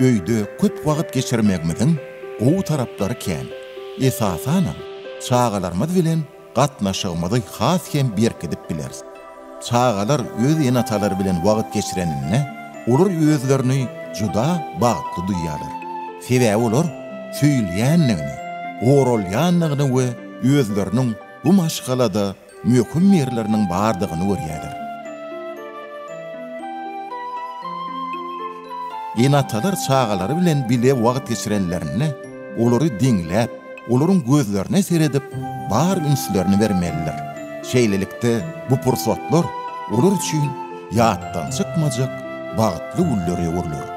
Öýde köp wagt geçirmegimiziň gowy taraplary kän. Esasanam, çagalarymyz bilen gatnaşygymyzy has hem berkidip bileris. Çagalar öz ene-atalary bilen wagt geçireninde, olar özlerini juda bagtly duýýarlar. Sebäbi olar söýülýändigini, goralýandygyny we özleriniň bu maşgalada möhüm ýerleriniň bardygyny görýärler. Ene-atalar çagalary bilen bile wagt geçirenlerinde, olary diňläp, olaryň gözlerine seredip, bar ünslerini bermelidir. Şeýlelikde, bu pursatlar olar üçin ýatdan çykmajak bagtly günlere öwrüler.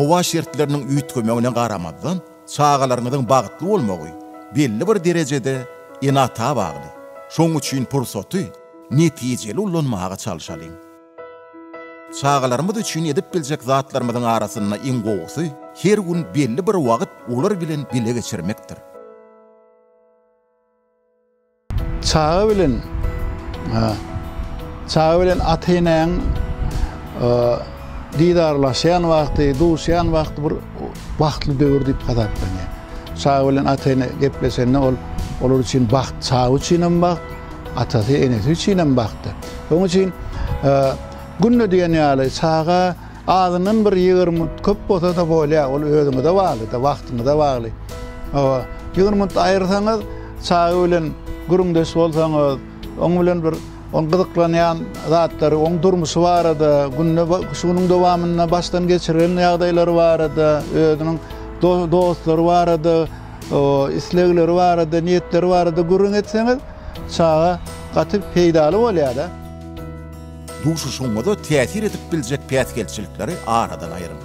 Howa şertleriniň üýtgemegine garamazdan, çagalaryňyzyň bagtly bolmagy belli bir derejede ene-ata bagly. Şonuň üçin pursaty netijeli ulanmaga çalşalyň. Çagalarymyz üçin edip biljek zatlarymyzyň arasynda iň gowusy, her gün belli bir wagt olar bilen bile geçirmekdir. Çaga bilen Çaga bilen ata-enäň didarlaşýan wagty, duşýan wagty bir bagtly döwür diýip hasaplanýar. Çaga bilen ata-ene gepleşende ol olar üçin bagt, çaga üçin hem bagt, atasy, enesi üçin hem bagtdyr. Onuň üçin günde diýen ýaly çaga azyndan bir ýigrimi köp bolsa-da bolýar, ol özüňize bagly-da, wagtyňyza bagly. Hawa, ýigrimi minut aýyrsaňyz, çaga bilen gürrüňdeş bolsaňyz, oň bilen bir oň gyzyklanýan zatlary, oň durmuşy barada, günde şu günüň dowamynda başdan geçiren ýagdaýlary barada, özüniň dostlary barada, islegleri barada, niýetleri barada gürrüň etseňiz, Çaga gaty peýdaly bolýada. Duşuşygyňyza täsir edip biljek päsgelçilikleri aradan aýryň.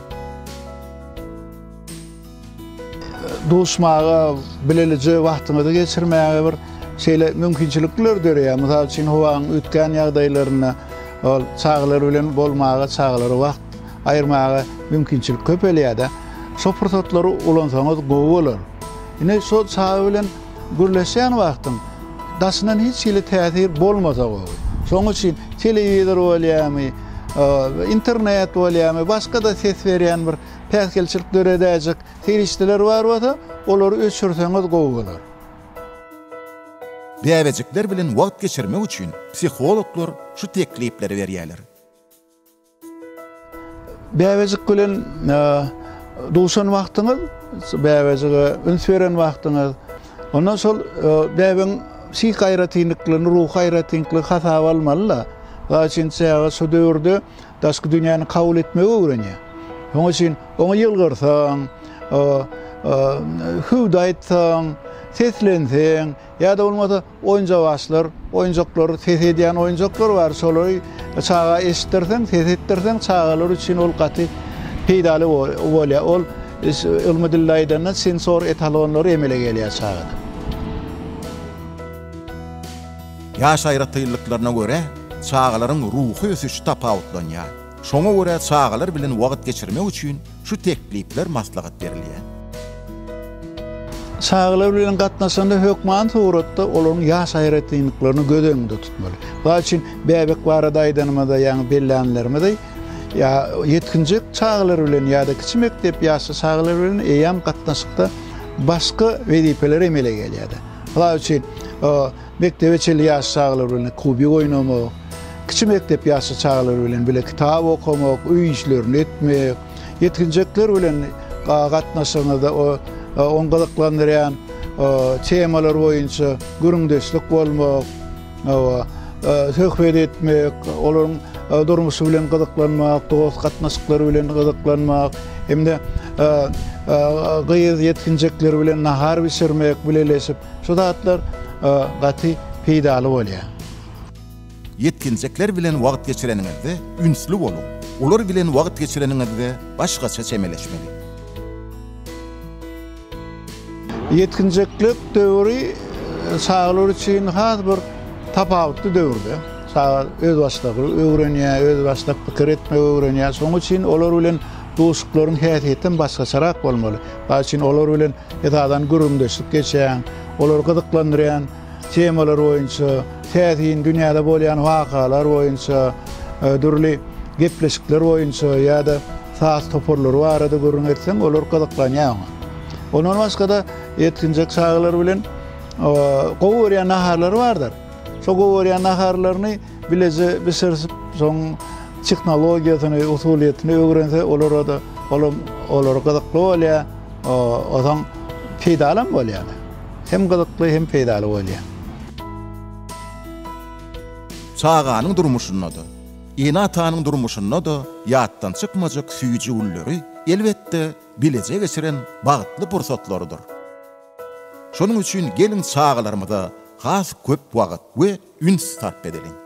Duşmaga, bilelije wagtyňyzy geçirmäge bir şeýle mümkinçilikler döreýär. Mysal üçin, howaň üýtgän ýagdaýlarynda ol çagalar bilen bolmaga, çagalara wagt aýyrmaga mümkinçilik köpelýär-de. Şo pursatlary ulansaňyz gowy bolar. Ine, şo çaga bilen. Gürleşýän wagtyň daşyndan hiç hili täsir bolmasa gowy. Şoň üçin telewizor bolýamy, internet bolýamy, başga-da ses berýän bir päsgelçilik döredäýjek serişdeler bar bolsa, olary öçürseňiz gowy bolar. Bäbejikler bilen wagt geçirmek üçin psihologlar şu teklipleri berýärler. Bäbejik bilen duşan wagtyňyz, bäbejige üns beren wagtyňyz, ondan şol bäbegiň psihiki aýratynlyklaryny, ruhy aýratynlyklary hasaba almaly-da. Mysal üçin, çaga şu döwürde daşky dünýäni kabul etmegi öwrenýär. Şonuň üçin oňa ýylgyrsaň, hüwdi aýtsaň, seslenseň ýa-da bolmasa Oýunjawaçlar, oýunjaklar, ses edýän oýunjaklar bar. Şolary çaga eşitdirseň, ses etdirseň, çagalar üçin ol gaty peýdaly bolýar. Ol ylmy dilde aýdanda sensor etalonlary emele gelýär çagada. Ýaş aýratynlyklaryna görä, çagalaryň ruhy ösüşi tapawutlanýar. Şoňa görä çagalar bilen wagt geçirmek üçin Şu teklipler maslahat berilýär. Çagalar bilen gatnaşanda hökmany suratda olaryň ýaş aýratynlyklaryny göz öňünde tutmaly. Mysal üçin, bäbek barada aýdanymyzda, ýaňy bellänlerimizi, ýetginjek çagalar bilen ýa-da kiçi mekdep ýaşly çagalar bilen eýýäm gatnaşykda başga wezipeler emele gelýär-de. Mysal üçin, Mekdebe çenli ýaşly çagalar bilen kubik oýnamak, kiçi mekdep ýaşly çagalar bilen bile kitap okamak, öý işlerini etmek, ýetginjekler bilen gatnaşygyňyzda ony gyzyklandyrýan temalar boýunça gürrüňdeşlik bolmak, söhbet etmek, olaryň durmuşy bilen gyzyklanmak, dost gatnaşyklary bilen gyzyklanmak hem-de gyz ýetginjekler bilen nahar bişirmek, bileleşip. Şu zatlar gaty peýdaly bolýar. Ýetginjekler bilen wagt geçireniňizde ünsli boluň. Olar bilen wagt geçireniňizde başgaça çemeleşmeli. Ýetginjeklik döwri çagalar üçin has bir tapawutly döwürde. Çaga özbaşdak öwrenýär, özbaşdak pikir etmegi öwrenýär. Şonuň üçin olar bilen Duşuklaryň häsiýetem başgaçarak bolmaly. Bal üçin olar bilen esasan gürrüňdeşlik geçýän, olary gyzyklandyrýan temalar boýunça, täsin dünýäde bolýan wakalar boýunça, dürli gepleşikler boýunça ýa-da saz toparlary barada gürrüň etseň, olar gyzyklanýar oňa. Ondan başga-da ýetginjek çagalar bilen gowy görýän naharlary bardyr. Şo gowy görýän naharlaryny Bileje bişirsip, şoň tehnologiýasyny, usulyýetini öwrense, olara-da olam olara gyzykly bolýar, ozan peýdalam bolýar. Hem gyzykly, hem peýdaly bolýar. Çaganyň durmuşynda-da, ene-atanyň durmuşynda-da ýatdan çykmajak süýji günleri, elbetde, bileje geçiren bagtly pursatlarydyr. Şonuň üçin geliň çagalarymyza has köp wagt we üns sarp edeliň.